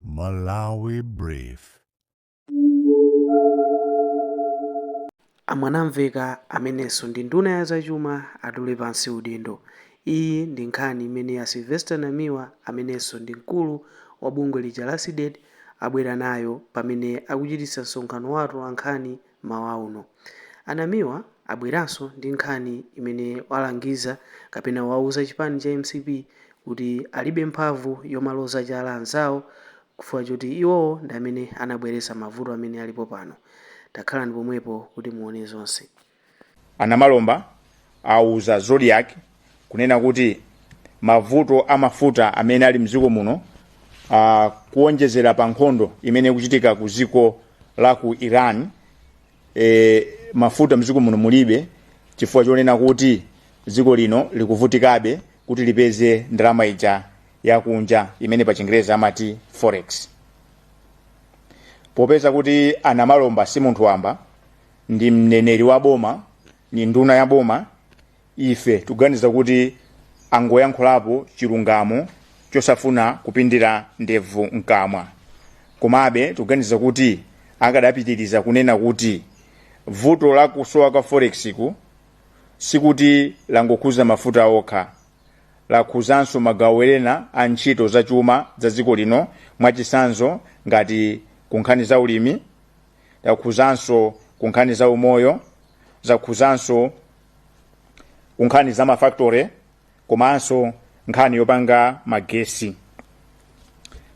Malawi Brief. A Mwanamveka amenenso ndi nduna ya zachuma atule pansi udindo. Iyi ndi nkhani imene a Sylvester Namiwa amenenso ndi mkulu wa bungwe lija la Cdedi abwera nayo pamene akuchititsa msonkhano wa atolankhani Mmawa uno, a Namiwa abweranso ndi nkhani imene alangiza kapena auza chipani cha mcp kuti alibe mphamvu yomaloza chala anzawo kufukwa choti iwowo ndi amene anabweretsa mavuto amene alipo pano. Takhalani pomwepo kuti muone zonse. A Namalomba auza Zodiak kunena kuti mavuto a mafuta amene ali mdziko muno uh, kuonjezera pa nkhondo imene ikuchitika ku dziko la ku iran e, mafuta mdziko muno mulibe chifukwa chonena kuti dziko lino likuvutikabe kuti lipeze ndalama ija yakunja imene pa chingerezi amati forex popeza kuti anamalomba si munthu wamba ndi mneneri wa boma ni nduna ya boma ife tuganiza kuti angoyankhulapo chilungamo chosafuna kupindira ndevu mkamwa komabe tuganiza kuti akadapitiriza kunena kuti vuto la kusowa kwa forex ku sikuti langokhuza mafuta okha lakhuzanso magawo ena a ntchito za chuma za dziko lino mwachisanzo ngati kunkhani za ulimi lakhuzanso kunkhani za umoyo zakhuzanso ku nkhani za mafactory komanso nkhani yopanga magesi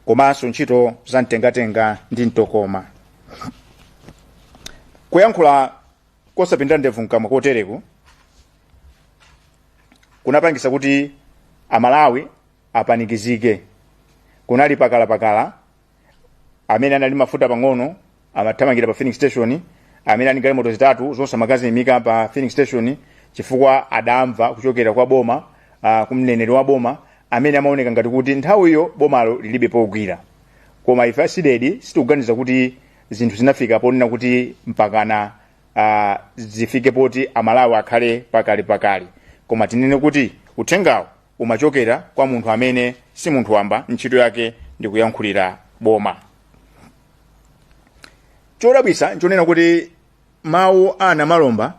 komanso ntchito za mtengatenga ndi mtokoma kuyankhula kosapindira ndevu mkamwa kotereku kunapangisa kuti amalawi apanikizike kunali pakalapakala amene anali mafuta pang'ono amathamangira pa filling station amene ali galimoto zitatu zonse amakaziimika pa filling station chifukwa adamva kuchokera kwa boma uh, kumneneri wa boma amene amaoneka ngati kuti nthawiyo bomalo lilibe pogwira koma ife a Cdedi sitikuganiza kuti zinthu zinafika ponena kuti mpakana uh, zifike poti amalawi akhale pakalapakala koma tinene kuti uthengawo umachokera kwa munthu amene si munthu wamba ntchito yake ndi kuyankhulira boma chodabwisa nchonena kuti mawu a Namalomba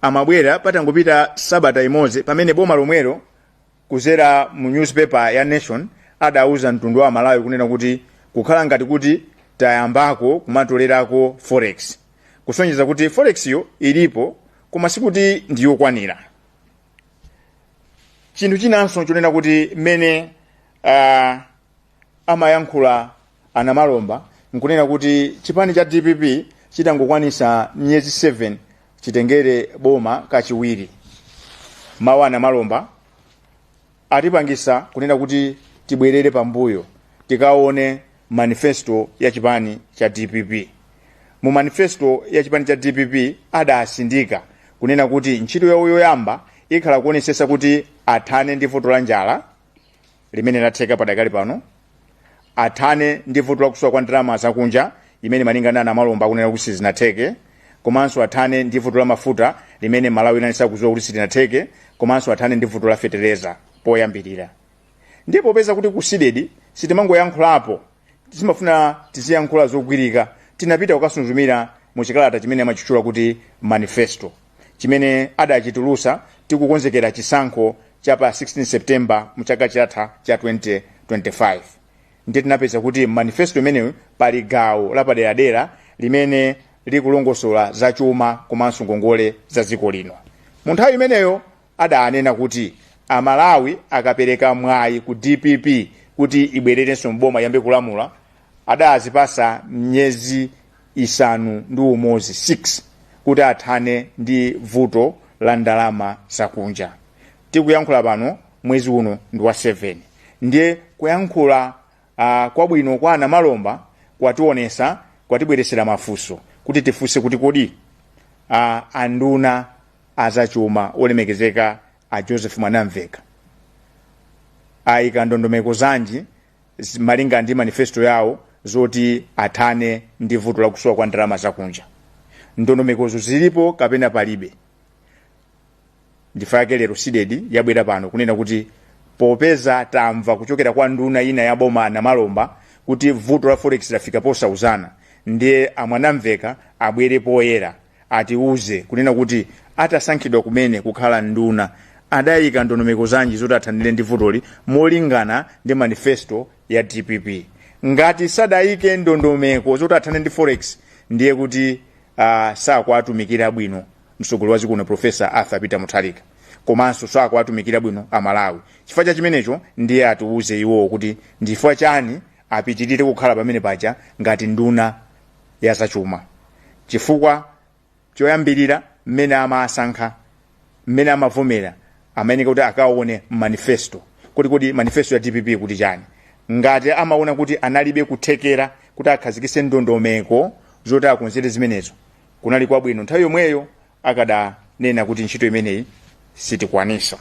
amabwera patangopita sabata imodzi pamene boma lomwelo kuzera mu newspaper ya nation adauza mtundu wa amalawi kunena kuti kukhala ngati kuti tayambako kumatolerako forex kusonyeza kuti forex yo ilipo koma sikuti ndiyokwanira chinthu chinanso chonena kuti mmene uh, amayankhula a Namalomba nkunena kuti chipani cha dpp chitangokwanisa miyezi 7 chitengere boma kachiwiri mawu a Namalomba atipangisa kunena kuti tibwerere pambuyo tikaone manifesto ya chipani cha dpp mu manifesto ya chipani cha dpp adasindika kunena kuti ntchito yawo yoyamba ikhala kuonesesa kuti athane ndi vuto la njala limene silatheka padakali pano athane ndi vuto la kusowa kwa ndalama zakunja imene malinga ndi a Namalomba akunena kuti sizinatheke komanso athane ndi vuto la mafuta limene Malawi aliyense akudziwa kuti silinatheke komanso athane ndi vuto la fetereza poyambirira ndiye popeza kuti ku CDEDI sitimangoyankhulapo timafuna tiziyankhula zogwirika tinapita kukasunzumira mu chikalata chimene amachitchula kuti manifesto chimene adachitulusa tikukonzekera chisankho cha pa 16 september mu chaka chatha cha 2025 ndiye tinapeza kuti mmanifesto imeneyo pali gawo lapaderadera limene likulongosola za chuma komanso ngongole za dziko lino mu nthawi imeneyo adanena kuti a Malawi akapereka mwayi ku dpp kuti ibwererenso m'boma iyambe kulamula adazipasa miyezi isanu ndi umodzi kuti athane ndi vuto la ndalama zakunja tikuyankhula pano mwezi uno ndi wa 7 ndiye kuyankhula uh, kwabwino kwa a Namalomba kwationesa kwatibweresera mafunso kuti tifunse kuti kodi uh, anduna azachuma olemekezeka a joseph mwanamveka ayika ndondomeko zanji zi- malinga ndi manifesto yawo zoti athane ndi vuto la kusowa kwa ndalama zakunja ndondomekozo zilipo kapena palibe nchifukwa chake lero CDEDI yabwera pano kunena kuti popeza tamva kuchokera kwa nduna ina ya boma namalomba kuti vuto la forex lafika posauzana ndiye a Mwanamveka abwere poyera atiuze kunena kuti atasankhidwa kumene kukhala nduna adayika ndondomeko zanji zoti athanire ndi vutoli molingana ndi manifesto ya dpp ngati sadayike ndondomeko zoti athane ndi forex ndiye kuti uh, sakuwatumikira bwino mtsogoleri wa dziko lino profesa arthur peter mutharika komanso sakuwatumikira bwino amalawi chifukwa cha chimenecho ndiye atiuze iwowo kuti ndi chifukwa chani apitirire kukhala pamene paja ngati nduna ya zachuma chifukwa choyambirira mmene amawasankha mmene amavomera amayeneka kuti akaone manifesto kuti kodi manifesto ya dpp ikuti chani ngati amaona kuti analibe kuthekera kuti akhazikise ndondomeko zoti akonzere zimenezo kunali kwabwino nthawi yomweyo akadanena kuti ntchito imeneyi sitikwanisa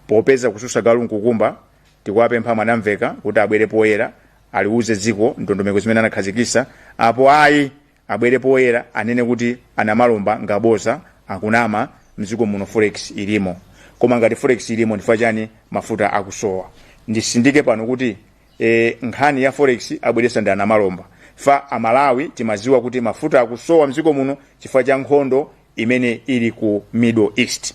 popeza kususa galu nkukumba tikuwapempha mwanamveka kuti abwere poyera aliuze dziko ndondomeko zimene anakhazikisa apo ayi abwere poyera anene kuti anamalomba ngaboza akunama mdziko muno forex ilimo koma ngati forex ilimo ndifukwa chani mafuta akusowa ndisindike pano kuti e, nkhani ya forex abweresa ndi anamalomba fe amalawi timaziwa kuti mafuta akusowa mdziko muno chifukwa cha nkhondo imene ili ku middle east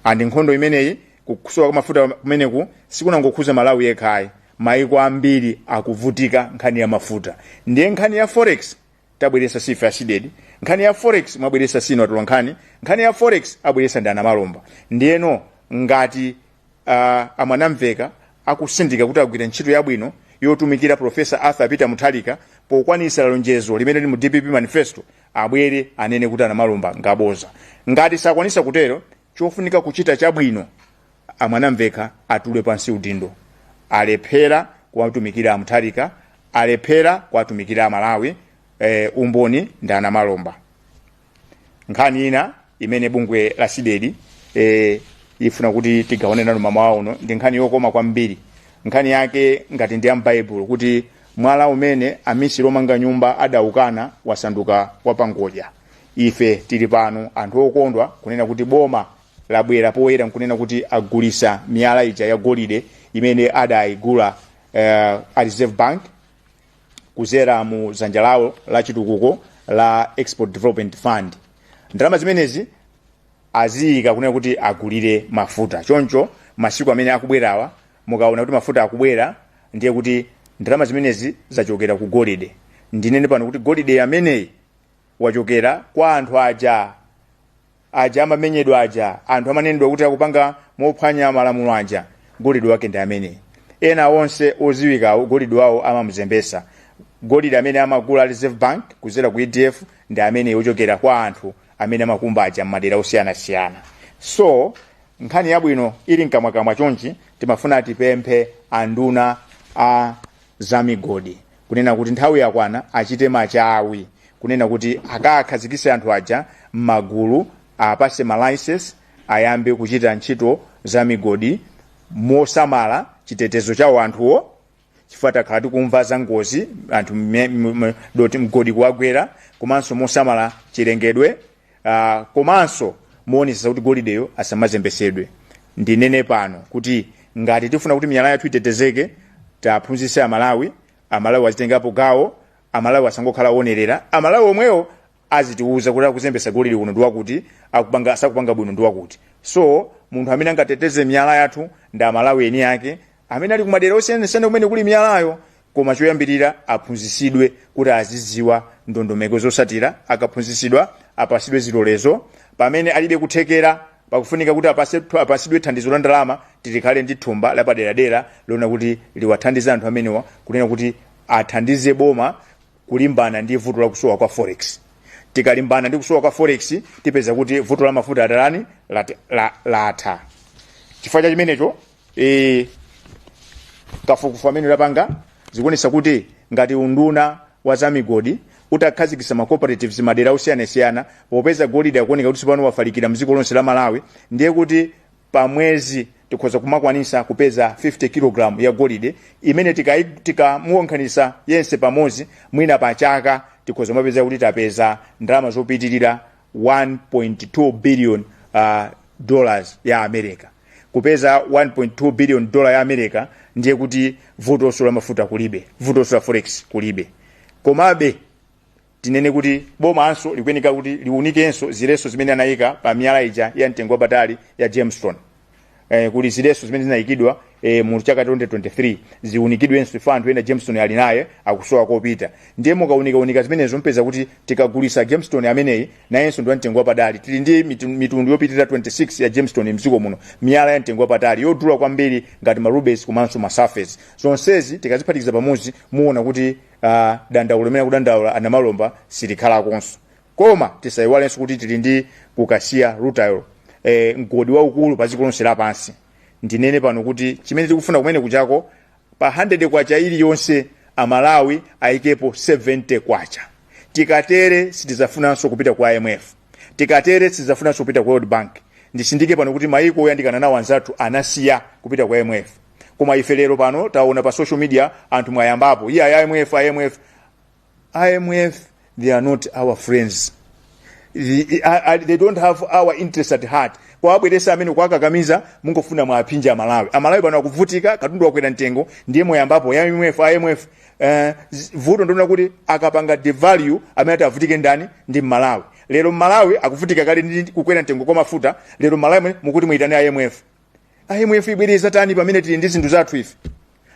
and nkhondo imeneyi kusowa kwa mafuta kumeneku sikunangokhuza malawi yekhayi maiko ambiri akuvutika nkhani ya mafuta ndiye nkhani ya forex tabweresa sife a cdedi nkhani ya forex mwabweresa sinu atolankhani nkhani ya forex abweresa ndi anamalomba ndiyeno ngati uh, amwanamveka akusindika kuti agwira ntchito yabwino yotumikira profesa arthur peter mutharika pokwanisa lonjezo limene lili mu dpp manifesto abwere anene kuti anamalomba ngaboza ngati sakwanisa kutero chofunika kuchita chabwino amwanamveka atule pansi udindo alephera kuwatumikira amutharika alephera kuwatumikira amalawi e, umboni ndi anamalomba nkhani ina imene bungwe la cdedi e, ifuna kuti tigawane nanu mamawa uno ndi nkhani yokoma kwambiri nkhani yake ngati ndi yam'baibulo kuti mwala umene amisiri omanga nyumba adaukana wasanduka wapangodya ife tili pano anthu okondwa kunena kuti boma labwera poyera nkunena kuti agulisa miyala ija ya golide imene adayigula uh, a reserve bank kuzera mu zanja lawo la chitukuko la export development fund ndalama zimenezi aziyika kunena kuti agulire mafuta choncho masiku amene akubwerawa mukaona kuti mafuta akubwera ndiye kuti ndalama zimenezi zachokera ku golide ndinene pano kuti golide ameneyi wachokera kwa anthu aja amamenyedwa aja anthu amanenedwa kuti akupanga mophwanya malamulo aja golide wake ndi ameneyi ena onse oziwikawo golide wawo amamuzembesa golide amene amagula reserve bank kuzera ku edf ndi ameneyi ochokera kwa anthu amene amakumba aja m'madera osiyanasiyana so nkhani yabwino ili mkamwakamwa chonchi timafuna tipemphe anduna a zamigodi kunena kuti nthawi yakwana achite machawi kunena kuti akakhazikise anthu aja m'magulu awapatse malicense ayambe kuchita ntchito za migodi mosamala chitetezo chawo anthuwo chifukwa takhala tikumva za ngozi anthu mme- m- m- doti mgodi kuwagwera komanso mosamala chilengedwe uh, komanso kuonetsetsa kuti golideyo asamazembetsedwe ndinene pano kuti ngati tifuna kuti miyala yathu itetezeke tiwaphunzitse amalawi amalawi azitengapo gawo amalawi asangokhala onerera amalawi omwewo azitiuza kuti akuzembesa golide kuno ndiwakuti akupanga sakupanga bwino ndiwakuti so munthu amene angateteze miyala yathu ndi amalawi eni ake amene ali kumadera osiyanasiyana kumene kuli miyalayo Koma choyambirira aphunzitsidwe kuti azidziwa ndondomeko zotsatira. Akaphunzitsidwa apatsidwe zilolezo. Pamene alibe kuthekera, pakufunika kuti apase, apatsidwe thandizo la ndalama kuti likhale ndi thumba lapaderadera lona kuti liwathandize anthu amenewa kunena kuti athandize boma kulimbana ndi vuto la kusowa kwa forex. Tikalimbana ndi kusowa kwa forex tipeza kuti vuto la mafuta atani lat, la, latha. Chifukwa cha chimenecho e, kafukufuku amene tapanga zikuonetsa kuti ngati unduna wa zamigodi utakhazikitsa ma cooperatives madera osiyanasiyana popeza golide akuoneka kuti tsopano wafalikira mdziko lonse la malawi ndiye kuti pa mwezi tikhoza kumakwanisa kupeza 50 kg ya golide imene tikai- tikamuwonkhanisa yense pamodzi mwina pa chaka tikhoza kumapeza kuti tapeza ndalama zopitirira 1.2 billion uh, dollars ya america kupeza 1.2 billion dollar ya america ndiye kuti vutoso la mafuta kulibe vutoso la forex kulibe komabe tinene kuti bomanso likuyeneka kuti liunikenso ziletso zimene anayika pa miyala ija ya mtengo wapatali ya gemstone eh, kuli ziletso zimene zinayikidwa eh, mu chaka 2023 ziunikidwenso chifukwa anthu ena gemstone ali naye akusowa kopita ndiye mukaunikaunika zimenezo mpeza kuti tikagulisa gemstone ameneyi nayenso ndi wamtengo wapatali tili ndi mitu- mitundu yopitirira 26 ya gemstone mdziko muno miyala ya mtengo wapatali yodula kwambiri ngati ma rubies komanso ma sapphires zonsezi tikaziphatikiza pamodzi muona kuti uh, dandaulo limene akudandaula a Namalomba silikhalakonso Koma tisaiwalenso kuti tili ndi ku Kasiya Rutile e, mgodi waukulu pa dziko lonse lapansi. Ndinene pano kuti chimene tikufuna kumene kujako pa K100 iliyonse a Malawi apezepo K70. Tikatere sitizafunanso kupita ku IMF. Tikatere sitizafunanso kupita ku World Bank. Ndisindike pano kuti maiko oyandikana nawo anzathu anasiya kupita ku IMF. Koma ife lero pano taona pa social media anthu mwayambapo, iyayi IMF, IMF. IMF, they are not our friends. The- I- I- They don't have our interest at heart. kuwabweresa amene kuwakakamiza mungofuna muwaphinje amalawi amalawi pano akuvutika katundu wakwera mtengo ndiye moyambapo ya imf imf eh, z- vuto ndi lonena kuti akapanga devalue amene atavutike ndani ndi mmalawi lero mmalawi akuvutika kale ndi kukwera mtengo kwa mafuta lero mmalawi mukuti muyitane imf imf ibwere izatani pamene tili ndi zinthu zathu ife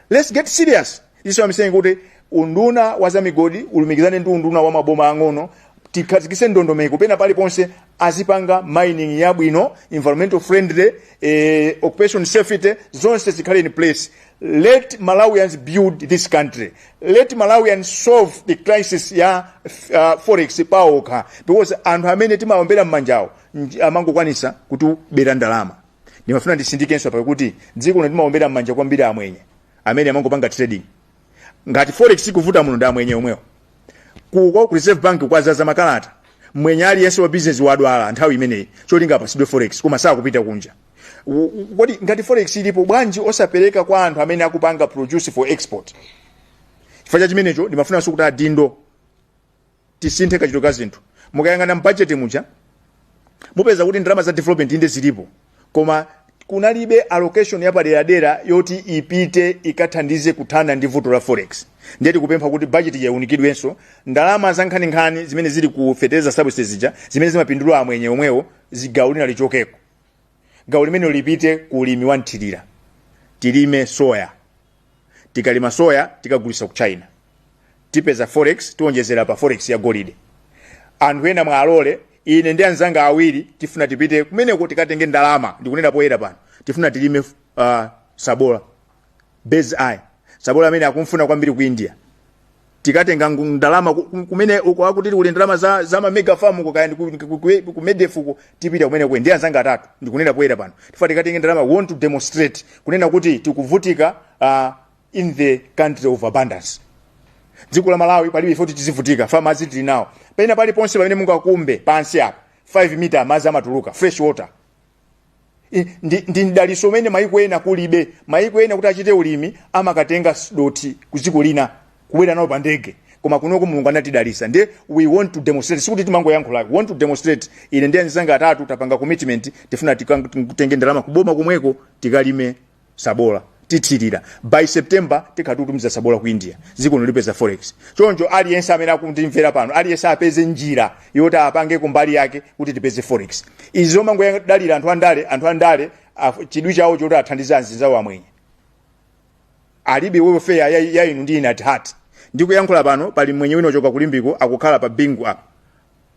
let's get serious This is what I'm saying kuti unduna wa zamigodi ulumikizane ndi unduna wa maboma ang'ono tikhazikise ndondomeko pena paliponse azipanga mining yabwino environmental friendly eh, occupation safety zonse zikhale in place let malawians build this country let malawians solve the crisis ya uh, forex paokha because anthu amene timaombera mmanjawo nj- amangokwanisa kutibera ndalama ndimafuna nditsindikenso apa kuti dziko lino timaombera m'manja kwambiri amwenye amene amangopanga trading ngati forex ikuvuta muno ndi amwenye omwewo ku kwa ku reserve bank kwazaza makalata mwenye aliyense wa business wadwala nthawi imeneyi cholinga apasidwe forex koma sakupita kunja U- u- kodi ngati forex ilipo bwanji osapereka kwa anthu amene akupanga produce for export chifukwa cha chimenecho ndimafunanso kuti adindo tisinthe kachitidwe ka zinthu mukayang'ana mu bajeti muja mupeza kuti ndalama za development inde zilipo koma kunalibe allocation yapaderadera yoti ipite ikathandize kuthana ndi vuto la forex ndiye tikupempha kuti bajeti iwunikidwenso ndalama zankhaninkhani zimene zili ku fertilizer subsidies zija zimene zimapindulira amwenye omwewo gawo lina lichokeko gawo limenelo lipite ku ulimi wa mthirira tilime soya tikalima soya tikagulisa ku china tipeza forex tiwonjezera pa forex ya golide anthu ena muwalole ine ndi anzanga awiri tifuna tipite kumeneko tikatenge ndalama ndikunena poyera pano tifuna tilime uh, sabola bird's eye sabola amene akumfuna kwambiri ku india tikatenga ngu- ndalama ku- ku- kumene uko akuti kuli ndalama za, za mamega farm uko kaya ndi ku- ku- ku- ku medef uko tipita kumeneko ine ndi anzanga atatu ndikunena poyera pano tifuna tikatenge ndalama we want to demonstrate kunena kuti tikuvutika uh, in the country of abundance dziko la malawi palibe chifukwa choti tizivutika chifukwa madzi tili nawo pena paliponse pamene mungakumbe pansi apa 5 mita madzi amatuluka fresh water I- ndi, ndi mdaliso umene maiko ena kulibe maiko ena kuti achite ulimi amakatenga s- dothi ku dziko lina kubwera nalo pa ndege koma kunoko mulungu anatidalisa ndiye we want to demonstrate sikuti timangoyankhula we want to demonstrate ine ndi anzanga atatu tapanga commitment tifuna tikang- titenge ndalama kuboma komweko tikalime sabola tithirira by september tikhale tikutumiza sabola ku india dziko lino lipeza forex choncho aliyense amene akundimvera pano aliyense apeze njira yoti apange kumbali yake kuti tipeze forex izi zomangoyadalira anthu andale anthu andale af- chidwi chawo nchoti athandize anzinzawo amwenye alibe welfare ya, ya inu ndi ine at heart ndikuyankhula pano pali mwenye wina ochoka ku limbeko akukhala pa bingu apa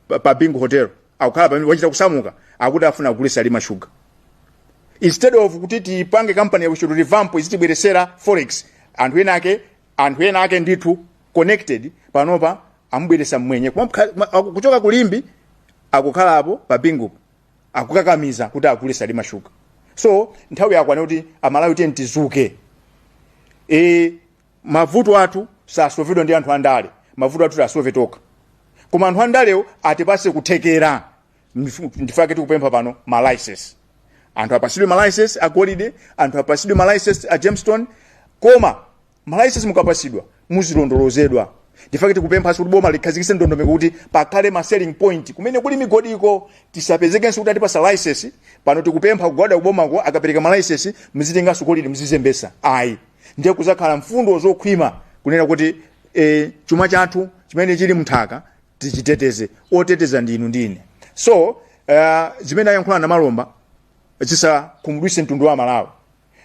pa- pa bingu hotel akukhala pamenepo wachita kusamuka akuti afuna agule salima sugar instead of kuti tipange kampani ya kuti revamp izitibweresera forex anthu ena ake anthu ena ake ndithu connected panopa amubweresa mwenye Koma mkha- ma- aku- kuchoka ku limbe akukhala apo pa bingu akukakamiza kuti agule salima sugar so nthawi yakwana kuti amalawi tiyeni tizuke e, mavuto athu sasovedwa ndi anthu andale mavuto athu tasove tokha koma anthu andalewo atipase kuthekera Ndif- ndifake tikupempha pano ma license anthu apasidwe ma license a golide anthu apasidwe ma license a gemstone koma ma license mukapasidwa muzilondolozedwa ndifake tikupemphanso kuti boma likhazikise ndondomeko kuti pakhale ma selling point kumene kuli migodiko tisapezekenso kuti atipasa license pano tikupempha kugwada kubomako akapereka ma license muzitenganso golide muzizembesa ayi ndiye kuzakhala mfundo zokhwima kunena kuti e, chuma chathu chimene chili mnthaka tichiteteze oteteza ndi inu ndi ine so uh, zimene ayankhula namalomba zisakhumudwise mtundu wa malawi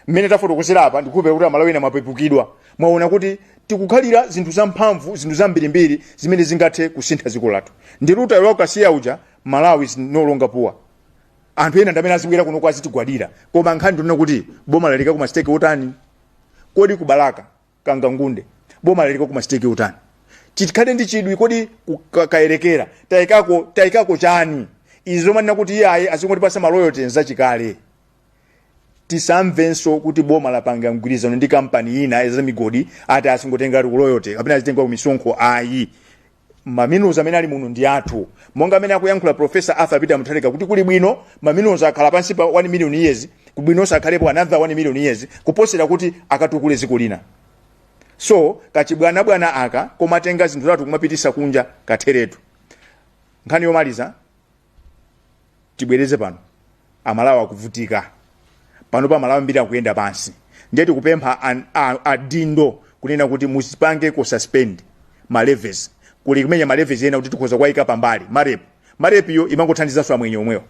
mmene tafotokozera apa ndikhulupirira kuti amalawi ena mwapepukidwa mwaona kuti tikukhalira zinthu zamphamvu zinthu zambirimbiri zimene zingathe kusintha dziko lathu ndi lutha lokasiya uja malawi is no longer poor anthu ena ndamene azibwera kuno kuzatigwadira koma nkhani ndi kunena kuti boma layikako ma stake otani kodi ku balaka kangankunde boma layikako ma stake otani tikhale ndi chidwi kodi ku- ka- kayerekera tayikako tayikako chani izi zomanena kuti iye ayi azingotipasa ma royalty nzachikale tisamvenso kuti boma lapanga mgwirizano ndi kampani ina ya migodi ati azingotenga royalty kapena azitenga kumisonkho ayi ma minerals amene ali muno ndi athu monga mmene akuyankhula professor arthur peter mutharika kuti kuli bwino ma minerals akhala pansi pa 1 million years kuli bwinonso akhalepo another 1 million years kuposera kuti akatukule dziko lina so kachibwanabwana aka kumatenga zinthu zathu kumapitisa kunja katheretu nkhani yomaliza tibwereze pano amalawi akuvutika panopa amalawi ambiri akuyenda pansi ndiye tikupempha an- a- adindo kunena kuti muzipangeko suspend ma levies kuli kumene ma levies ena kuti tikhoza kuwayika pambali marep marep yo imangothandizanso amwenye omwewo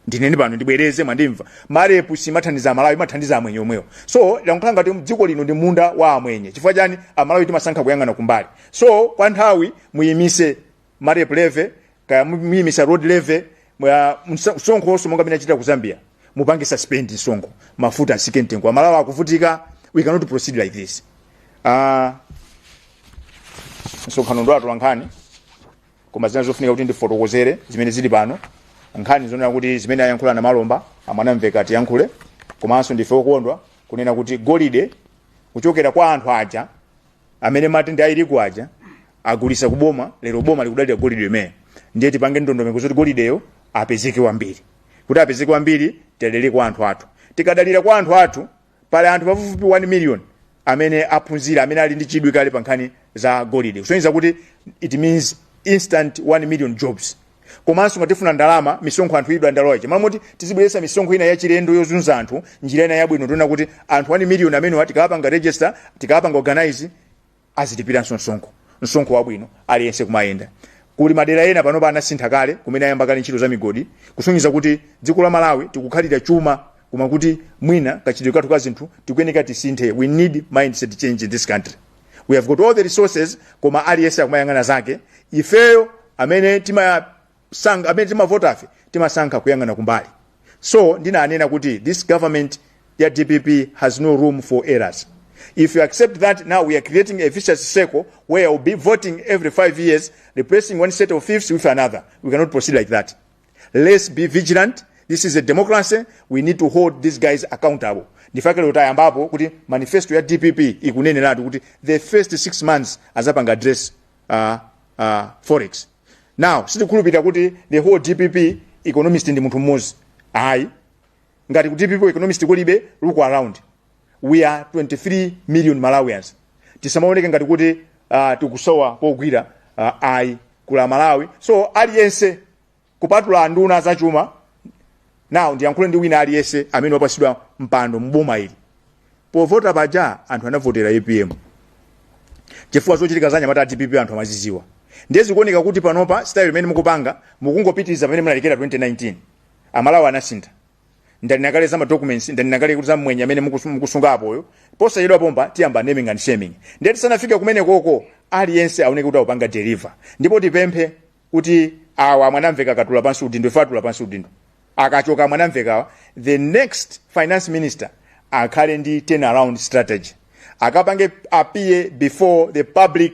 ndineni pano ndibwereze mwandimva marep simathandiza amalawi imathandiza amwenye omwewo so lakhala ngati dziko lino ndi munda wa amwenye chifukwa chani amalawi timasankha kuyang'ana kumbali so kwa nthawi muyimise marep levy kaya muyimisa road levy mwa- msa- msonkho onse monga mmene achita ku zambia mupange suspend msonkho mafuta asike mtengo amalawi akuvutika we cannot proceed like this Ah, msonkhano ndi atolankhani koma zina zofunika kuti ndifotokozere zimene zili pano nkhani zonena kuti zimene ayankhula namalomba a mwanamvekha atiyankhule komanso ndife okondwa kunena kuti golide kuchokera kwa anthu aja amene mmati ndi a illegal aja agulisa kuboma lero boma likudalira golide yemweyo ndiye tipange ndondomeko zoti golideyo apezeke wambiri kuti apezeke wambiri tidalire kwa anthu athu tikadalira kwa anthu athu pali anthu pafupifupi 1 million amene aphunzira amene ali ndi chidwi kale pa nkhani za golide kusonyeza kuti it means instant 1 million jobs komanso ngati tifuna ndalama misonkho anthu idwa ndalowa ichi mmalo moti tizibweretsa misonkho ina yachilendo yozunza anthu njira ina yabwino tiona kuti anthu 1 miliyoni amenewa tikawapanga register tikawapanga organize azilipiranso msonkho msonkho wabwino aliyense kumayenda kuli madera ena panopa anasintha kale kumene ayamba kale ntchito za migodi kusonyeza kuti dziko la malawi tikukhalira chuma koma kuti mwina kachitidwe kathu ka zinthu tikuyeneka tisinthe we need mindset change in this country we have got all the resources koma aliyense akumayang'ana zake ifeyo amene timasankha amene timavotafe timasankha kuyang'ana kumbali so ndinanena kuti this government ya dpp has no room for errors if you accept that now we are creating a vicious circle where we'll be voting every five years replacing one set of thieves with another we cannot proceed like that let's be vigilant this is a democracy we need to hold these guys accountable ndifake lero tayambapo kuti manifesto ya dpp ikuneneratu kuti the first six months azapanga address uh, uh, forex now sitikhulupirira kuti the whole dpp economist ndi munthu mmodzi ayi ngati ku dpp economist kulibe look around we are 23 million malawians tisamaoneke ngati kuti uh, tikusowa pogwira uh, ayi kula malawi so aliyense kupatula anduna zachuma now ndiyankhule ndi wina aliyense amene wapasidwa mpando mboma ili povota paja anthu anavotera apm chifukwa zochitika za anyamata dpp anthu amaziziwa ndiye zikuoneka kuti panopa style imene mukupanga mukungopitiriza pamene munalekera 2019 amalawi anasintha ndanena kale za ma documents ndanena kale kuti za mmwenye amene mukusu- mukusunga apoyo posachedwa pompa tiyamba naming and shaming ndiye tisanafike kumenekoko aliyense aoneke kuti akupanga deliver ndipo tipemphe kuti awa a mwanamvekha akatula pansi udindo if atula pansi udindo akachoka a mwanamvekhawa the next finance minister akhale ndi turnaround strategy akapange appear before the public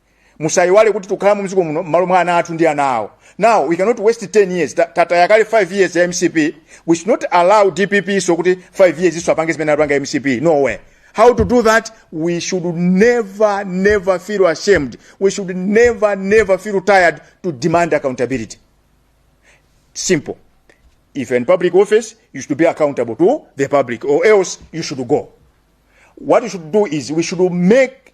musayiwale kuti tikukhala mu mdziko muno mmalo mwa ana athu ndi ana awo now we cannot waste 10 years Ta- tataya kale 5 years ya mcp we should not allow dpp so kuti 5 years iso apange zimene anapanga mcp no way how to do that we should never never feel ashamed we should never never feel tired to demand accountability simple if you're in public office you should be accountable to the public or else you should go what we should do is we should make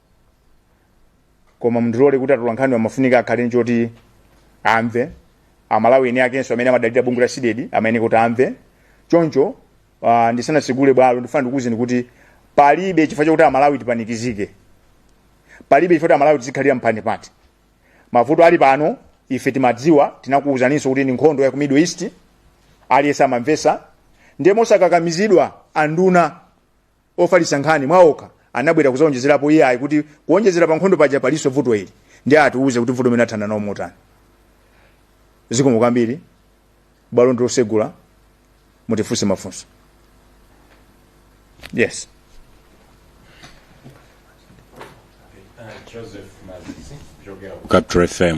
koma mundilole kuti atolankhani amafunika akhale n'choti amve amalawi eni akenso amene amadalira bungwe la CDEDI amene kuti amve choncho uh, ndisanatsegule bwalo ndifuna ndikuwuzeni kuti palibe chifukwa chakuti amalawi tipanikizike palibe chifukwa chakuti amalawi tizikhalira mphanipati mavuto ali pano ife timadziwa tinakuwuzaninso kuti ndi nkhondo ya ku middle east aliyense amamvetsa ndiye mosakakamizidwa anduna ofalitsa nkhani mwaokha anabwera kuzaonjezerapo iyayi kuti kuonjezera pa nkhondo paja palinso vuto ili ndiye atiuze kuti vuto limeneli athana nalo motani zikomo kwambiri bwalo ndi lotsegula mutifunse mafunso yes Joseph Mazizi kuchokera ku Capital FM.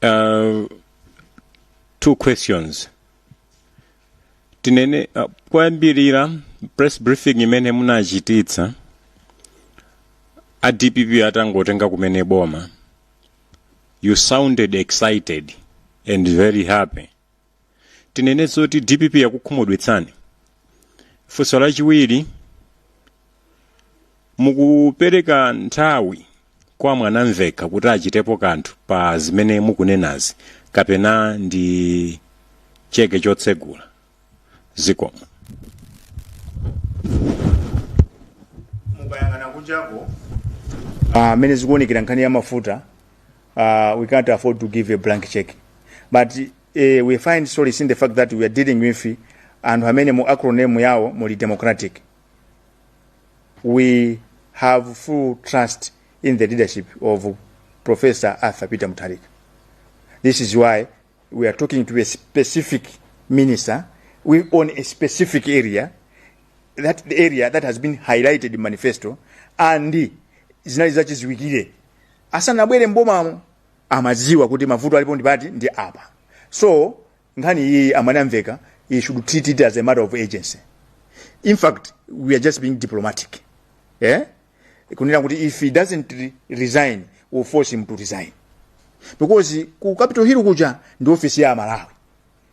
Uh, two questions. tinene uh, koyambirira press briefing imene munachititsa a dpp atangotenga kumene boma you sounded excited and very happy tinene zoti dpp yakukhumudwitsani funso lachiwiri mukupereka nthawi kwa mwanamvekha kuti achitepo kanthu pa zimene mukunenazi kapena ndi cheke chotsegula zikomo mukayang'ana kunjaku mmene uh, zikuonekera nkhani ya mafuta uh, we can't afford to give a blank check but uh, we find solace in the fact that we are dealing with anthu amene mu acronym yawo muli democratic we have full trust in the leadership of Professor Arthur Peter Mutharika. This is why we are talking to a specific minister we on a specific area, that the area that has been highlighted in manifesto, and zinali zachiziwikire asanabwere mbomamo amadziwa kuti mavuto alipo ndi pati ndi apa so Nkhani iyiyi amwene amveka he should treat it as a matter of urgency in fact we are just being diplomatic eh kunena kuti if he doesn't re- resign we'll force him to resign because ku capital hill kuja ndi office ya malawi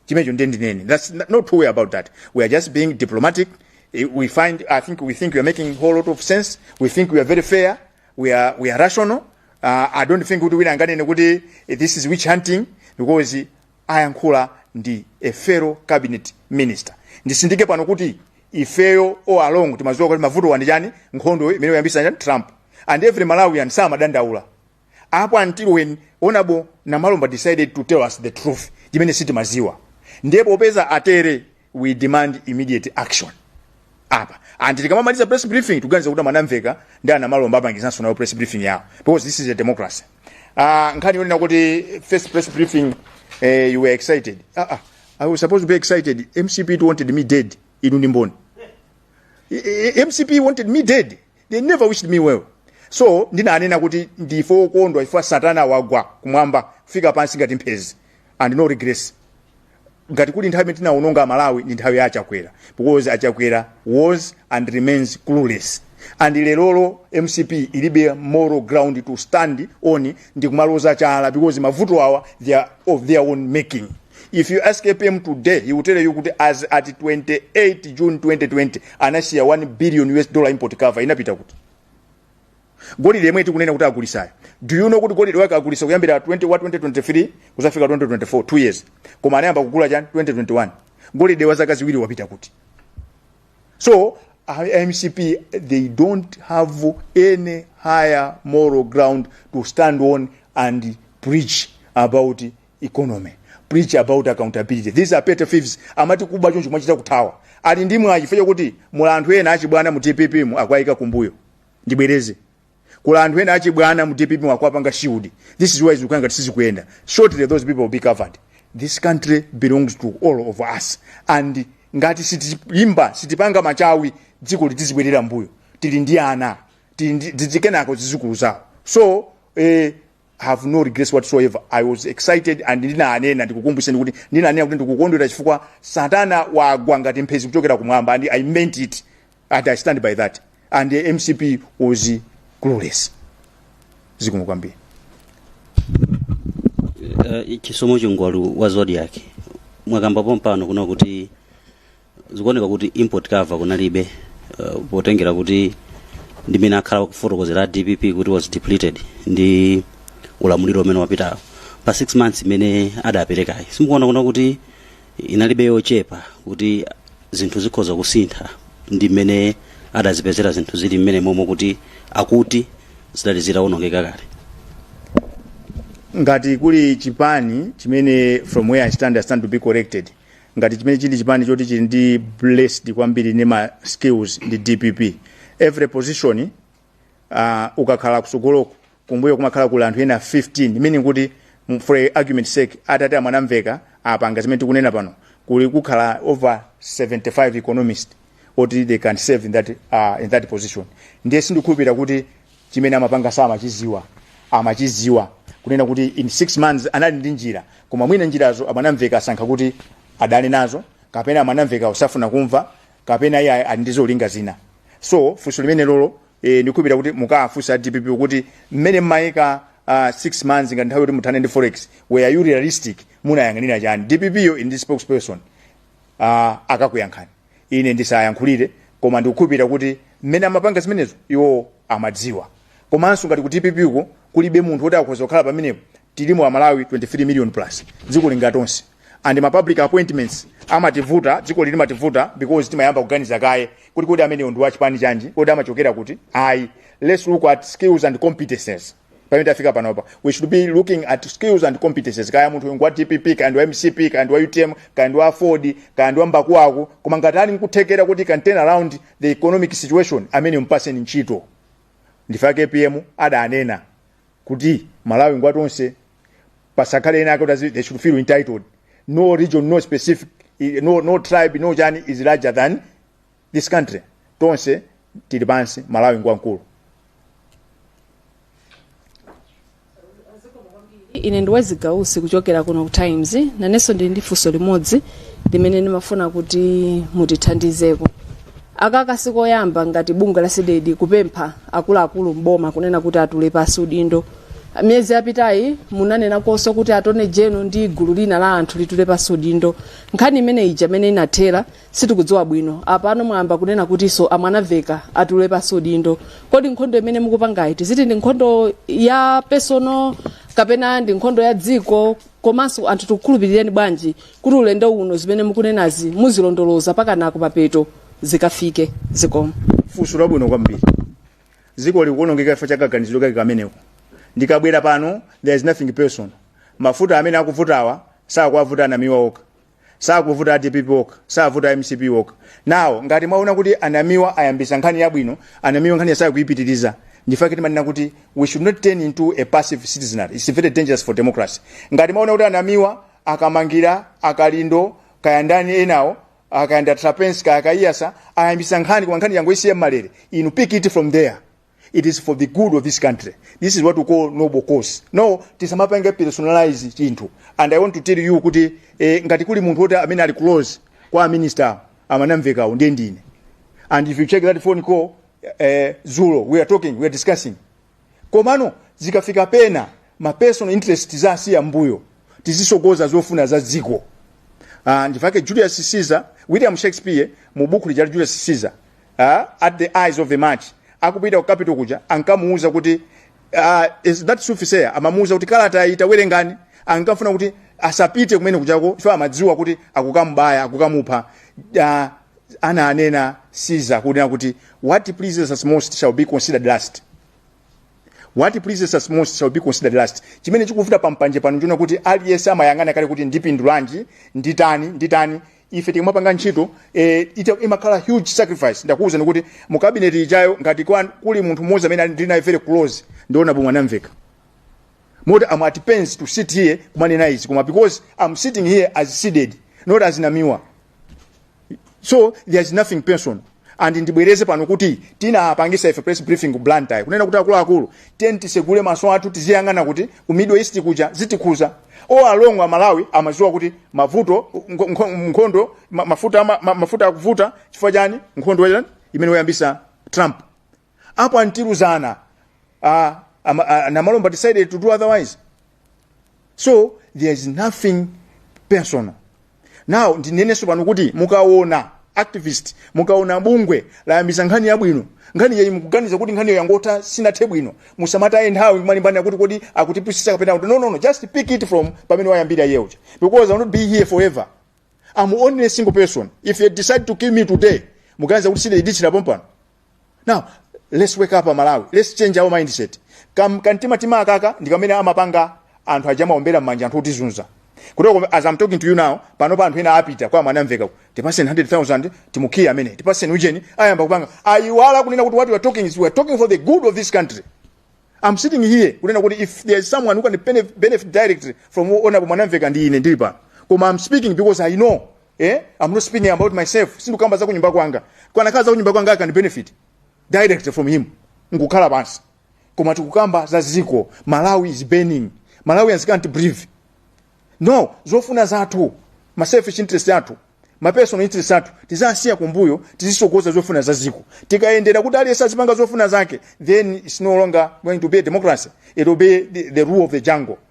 chimecho ndiye ndinene that's n- not true way about that we are just being diplomatic Eh, we find i think we think we are making a whole lot of sense we think we are very fair we are, we are rational uh, i don't think kuti wina anganene kuti eh, this is witch hunting because ayankhula ndi a fellow cabinet minister ndisindike pano kuti ifeyo all along timadziwa kuti mavutowa ndi chani nkhondo imene wayambitsa chani trump and every malawian samadandaula up until when honorable namalomba decided to tell us the truth chimene sitimadziwa ndipo popeza atere we demand immediate action apa and tikamamaliza press briefing tikuganiza kuti a mwanamvekha ndi a namalomba apangizanso nayo press briefing yawo because this is a democracy uh, nkhani yonena kuti first press briefing eh, you were excited uh, uh, i was supposed to be excited mcp it wanted me dead inu ndi mboni I- I- mcp wanted me dead they never wished me well so ndinanena kuti ndife okondwa ife satana wagwa kumwamba kufika pansi ngati mphezi and no regrets ngati kuli nthawi imene tinawononga a malawi ndi nthawi ya a chakwera because a chakwera was and remains clueless and lerolo mcp ilibe moral ground to stand on ndi kumaloza chala because mavuto awa they are of their own making if you ask apm today he will tell you kuti as at 28 june 2020 anasiya 1 billion us dollar import cover inapita kuti golide yemwe tikunena kuti agulisayo do you know kuti golide wake agulisa kuyambira 20 wa 2023 kuzafika 2024 2 years koma anayamba kugula chani 2021 golide wa zaka ziwiri wapita kuti so a mcp they don't have any higher moral ground to stand on and preach about economy preach about accountability these are petty thieves amati kuba choncho mwachita kuthawa ali ndi mwayi chifukwa chakuti muli anthu ena achibwana mu dpp mu akwayika kumbuyo ndibwereze kuli anthu ena achibwana mu dpp mu akwapanga shield this is why zikuyenda ngati sizikuyenda shortly those people will be covered this country belongs to all of us and ngati sitilimba sitipanga machawi dzikoli tizibwerera mbuyo tili ndi ana tili ndi- dzidzi kenako zizukulu zawo so eh, have no regrets whatsoever i was excited and ndinanena ndikukumbuseni kuti ndinanena kuti ndikukondwera chifukwa satana wagwa ngati mphezi kuchokera kumwamba and i meant it and i stand by that and the mcp was clueless zikomo kwambiri uh, chisomo chingwalu wa zodiak mwakamba pompano kunena kuti zikuoneka kuti import cover kunalibe uh, potengera kuti ndi mmene akhala akufotokozera a dpp kuti was depleted ndi ulamuliro umene wapitawo pa 6 months imene adaperekayi simukuona kunena kuti inalibe yochepa kuti zinthu zikhoza kusintha ndi mmene adazipezera zinthu zili mmene momwe kuti akuti zidali zitawonongeka kale ngati kuli chipani chimene from where i stand i stand to be corrected ngati chimene chili chipani choti chili ndi blessed kwambiri ndi ma skills ndi dpp every position uh, ukakhala kusogoloku kumbuyo kumakhala kuli anthu ena 15 meaning kuti mm, for argument sake atati a mwanamvekha apanga zimene tikunena pano kuli kukhala over 75 economist oti they can serve in that, uh, in that position ndiye sindikhulupirira kuti chimene amapanga samachiziwa amachiziwa kunena kuti in six months anali ndi njira koma mwina njirazo a mwanamvekha asankha kuti adane nazo kapena a mwanamvekha osafuna kumva kapena iye ali ndi zolinga zina so funso limenelolo eh, ndikukhulupirira kuti mukafunsa dpp kuti mmene mmayika uh, 6 months ngati nthawi yoti muthane ndi forex were you realistic munayang'anira chani dpp yo ili ndi spokesperson uh, akakuyankhani ine ndisayankhulire koma ndikukhulupirira kuti mmene amapanga zimenezo iwo amadziwa komanso ngati ku dpp uko kulibe munthu woti akhoza kukhala pamenepo tilimo amalawi 23 million plus dzikoli ndi latonse and ma public appointments amativuta dzikoli limativuta because timayamba kuganiza kaye kuti kodi ameneyo ndi wachipani chanji kodi amachokera kuti ayi let's look at skills and competences pamene tafika panopa we should be looking at skills and competences kaya munthu uyu ngwa dpp kaya ndi wa mcp kaya ndi wa utm kaya ndi wa aford kaya ndi wa mbakuwaku koma ngati ali nkuthekera kuti can turn around the economic situation amene mpaseni ntchito ndifake apm adanena kuti malawi ngwa tonse pasakhale ena ake kuti azi- they should feel entitled no region no specific no, no tribe no chani is larger than this country tonse tili pansi malawi ngwamkulu ine ndi wezi gausi kuchokera kuno ku times nanenso ndili ndi funso limodzi limene ndimafuna kuti mutithandizeko akaka sikoyamba ngati bungwe la cdedi kupempha akuluakulu mboma kunena kuti atule pasi udindo miyezi yapitayi munanena konso kuti attorney general ndi gulu lina la anthu litule pasi udindo nkhani imene ija imene inathera sitikudziwa bwino apano mwayamba kunena kutinso amwanamvekha atule pasi udindo kodi nkhondo imene mukupangayi tiziti ndi nkhondo ya personal kapena ndi nkhondo ya dziko komanso anthu tikukhulupirireni bwanji kuti ulendo uno zimene mukunenazi muzilondoloza mpakana kumapeto zikafike zikomo funso labwino kwambiri dziko likuonongeka chifukwa cha kaganizidwe kake kameneko ndikabwera pano there is nothing personal mafuta amene akuvutawa sakuwavuta anamiwa okha sakuvuta adpp okha savuta mcp okha now ngati mwaona kuti anamiwa ayambisa nkhani yabwino anamiwa nkhaniyo sakuipitiriza ndifake timanena kuti we should not turn into a passive citizenry its very dangerous for democracy ngati mwaona kuti anamiwa akamangila akalindo kaya ndani enawo kaya nda trapence kaya akaiyatsa ayambisa nkhani koma nkhaniyo angoisiya mmalere inu pick it from there it is for the good of this country this is what we call noble cause no tisamapange personalize chinthu and i want to tell you kuti eh, ngati kuli munthu woti amene ali close kwa minister amwanamvekhawo ndiye ndine and if you check that phone call eh, zulo we are talking we are discussing komano zikafika pena ma personal interest tizisiya mbuyo tizisogoza zofuna za dziko ndifake Julius Caesar William Shakespeare mu buku lija la Julius Caesar uh, at the ides of the march akupita ku capitol kuja ankamuuza kuti uh, is that soothsayer amamuuza kuti kalata iyi tawerengani ankafuna kuti asapite kumene kujako chifukwa amadziwa kuti akukamubaya akukamupha uh, ana anena caesar kunena kuti what pleases us most shall be considered last what pleases us most shall be considered last chimene chikuvuta pampanje pano nchonena kuti aliyense amayang'ana kale kuti ndipindulanji nditani nditani ife tikamapanga ntchito eh, ita- imakhala huge sacrifice ndakuwuzani kuti mu cabinet ijayo ngati kwa- kuli munthu mmodzi amene ali- ndili naye very close ndi honourable mwanamvekha moti am at pains to sit here kumanena izi koma because am sitting here as cdedi not as namiwa so there's nothing personal and ndibwereze pano kuti tinapangisa ife press briefing ku blantyre kunena kuti akuluakulu tiyeni tisegule maso athu tiziyang'ana kuti ku middle east kuja zitikhuza all along amalawi amaziwa kuti mavuto nko- nko- nkhondo ma- mafuta ama- ma- mafuta akuvuta chifukwa chani nkhondo ya- imene wayambisa trump apo anthu tiluza naye uh, um, uh, namalomba decided to do otherwise so there is nothing personal now ndinenenso pano kuti mukaona activist mukaona bungwe layambisa nkhani yabwino nkhani yake mukuganiza kuti nkhani yangotha sinathe bwino musamataye nthawi kumalimbana kuti kodi akutipusisa kapena kuti no no no just pick it from pamene wayambira yeuja because i will not be here forever i'm only a single person if you decide to kill me today muganiza kuti sindingatsikire pompano now let's wake up amalawi let's change our mindset Kam, kantima tima akakaka ndi kamene amapanga anthu aja amaombera m'manja anthu otizunza kutoko as i'm talking to you now pano pa anthu ena apita kwa mwanamveka kuti tipaseni 100000 timukhiye amene tipaseni ujeni ayamba kupanga ayiwala kunena kuti what we are talking is we are talking for the good of this country i'm sitting here kunena kuti if there is someone who can benef- benefit directly from honorable mwanamveka ndi ine ndili pano koma i'm speaking because i know eh? I'm not speaking about myself sindikukamba za kunyumba kwanga kukanakhala za kunyumba kwanga I can benefit direct from him nkukhala pansi koma tikukamba za ziko malawi is burning malawians can't breathe no zofuna zathu ma selfish interest athu ma personal interest athu tizisiya kumbuyo tizisogoza zofuna za ziko tikayendera kuti aliyense azipanga zofuna zake then it's no longer going to be a democracy it will be the, the rule of the jungle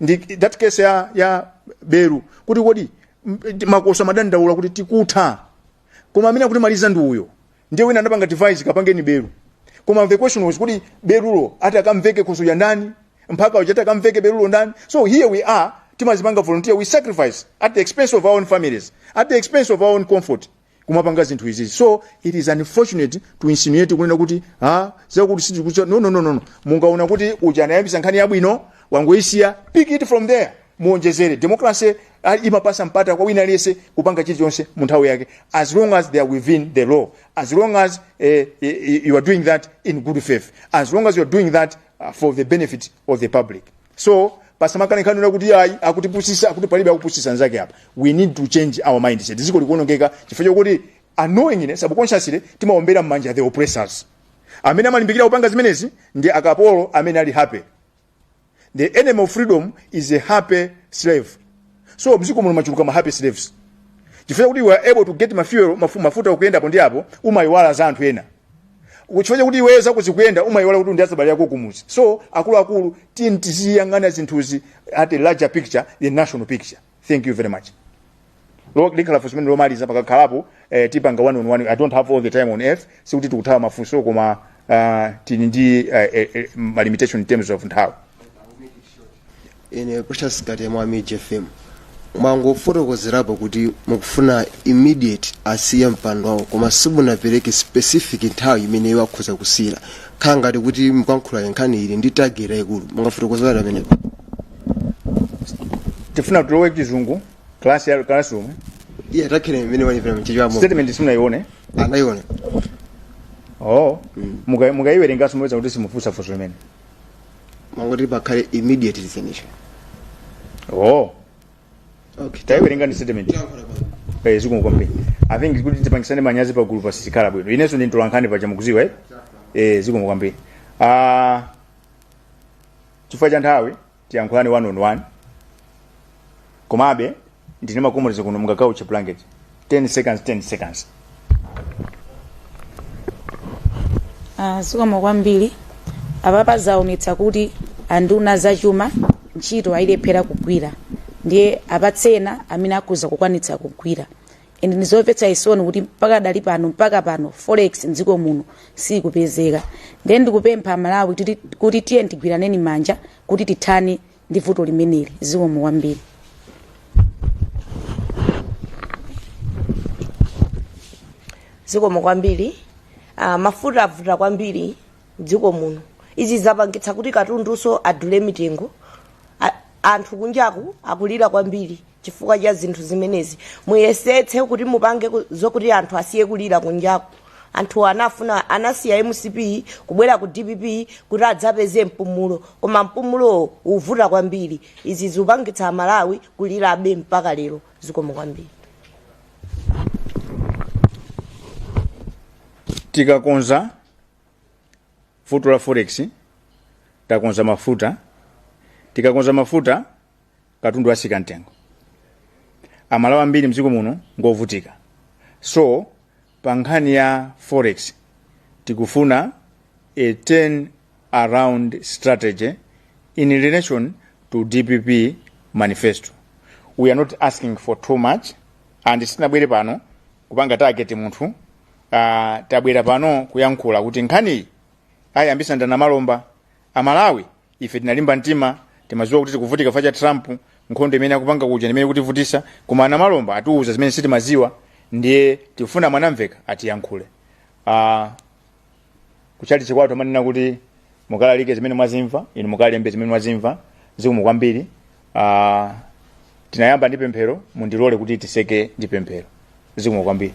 ndi that case ya, ya belu kuti kodi m- makoswe amadandaula kuti tikutha koma amene akutimaliza ndi uyo ndiye wina anapanga device kapangeni belu koma the question was kuti belulo ati akamveke khoswe wa ndani mphaka uja ati akamveke belulo ndani so here we are timazipanga volunteer we sacrifice at the expense of our own families at the expense of our own comfort kumapanga zinthu izizi so it is unfortunate to insinuate kunena kuti ha zakuti sizikucha no no no no no. mukaona kuti uja anayambisa nkhani yabwino wangoisiya pick it from there muonjezere democracy ah, imapasa mpata kwa wina aliyense kupanga chilichonse mu nthawi yake as long as they are within the law as long as eh, eh, you are doing that in good faith as long as you are doing that ah, for the benefit of the public so pasamakhale nkhani yonena kuti ayi akutipusisa akuti palibe akupusisa nzake apa we need to change our mindset dziko likuonongeka chifukwa chokuti unknowingly subconsciously timaombera mmanja the oppressors amene amalimbikira kupanga zimenezi ndi akapolo amene ali happy the enemy of freedom is a happy slave so mziko muno machuluka ma happy slaves chifukwa kuti you are able to get mafuel mafu, mafuta okuyenda apo ndi apo umayiwala za anthu ena chifukwa kuti iweyo zako zikuyenda umayiwala kuti ndi azibale ako kumuzi so akuluakulu tiyeni tiziyang'ana zinthuzi at a larger picture the national picture thank you very much Lo- likhala funso limene lomaliza pakakhalapo eh, tipanga one on one i don't have all the time on earth sikuti tikuthawa mafunso koma uh, tili ndi uh, eh, eh, ma limitation in terms of nthawi ine precious kati mwa MIJ FM mwangofotokozerapo kuti mukufuna immediate asiye mpando wawo koma simunapereke specific nthawi imene iwo akhoza kusiyira khala ngati kuti mukalankhula nkhani ili ndi target yaikulu mungafotokozerenji pamenepo tifuna tulowe chizungu class ya classroom iye target imene ilipo mChichewamo statement simunayione anaiona oh muka- mukaiwerengaso mupeza kuti simufunsa funso limene mangoti pakhale immediate resignation oh okay taiwerengani statement Tayankhula pano. eh zikomo kwambiri i think kuti tipangitsane manyazi pa gulu pasizikhala bwino inenso ndi mtolankhani paja mukudziwa eh eh zikomo kwambiri ah chifukwa cha nthawi tiyankhulani one on one komabe ndine makomolezo kuno kungauche blanket 10 seconds 10 seconds Ah, zikomo kwambiri apapa zaonetsa kuti anduna zachuma ntchito ayilephera kugwira ndiye apatsena amene akhoza kukwanitsa kugwira ende ndizomvetsa chisoni kuti mpaka adali pano mpaka pano forex mdziko muno sikupezeka ndiye ndikupempha amalawi kuti- kuti tiye tigwiraneni manja kuti tithane ndi vuto limeneli zikomo kwambiri zikomo kwambiri uh, mafuta avuta kwambiri mdziko muno izi zapangitsa kuti katundunso adule mitengo Anthu kunjaku akulira kwambiri chifukwa cha zinthu zimenezi. Muyesetse kuti mupange ku- zokuti anthu asiye kulira kunjaku. Anthuwa anafuna anasiya mcp kubwera ku dpp kuti adzapeze mpumulo koma mpumulowo ukuvuta kwambiri. Izi zikupangitsa Amalawi kulirabe mpaka lero. Zikomo kwambiri. tikakonza Vuto la forex takonza mafuta tikakonza mafuta katundu atsika mtengo amalawi ambiri mdziko muno ngovutika so pa nkhani ya forex tikufuna a turn around strategy in relation to dpp manifesto we are not asking for too much and sitinabwere pano kupanga target munthu Ah, tabwera pano kuyankhula kuti nkhaniyi ayambisa ndi a namalomba amalawi ife tinalimba mtima timaziwa kuti tikuvutika chifukwa cha trump nkhondo imene akupanga kuja imene ikutivutisa koma a namalomba atiuza zimene sitimaziwa ndiye tifuna mwanamveka atiyankhule ah, kuchalichi kwathu amanena kuti mukalalike zimene mwazimva inu mukalembe zimene mwazimva zikomo kwambiri ah, tinayamba ndi pemphero mundilole kuti tiseke ndi pemphero zikomo kwambiri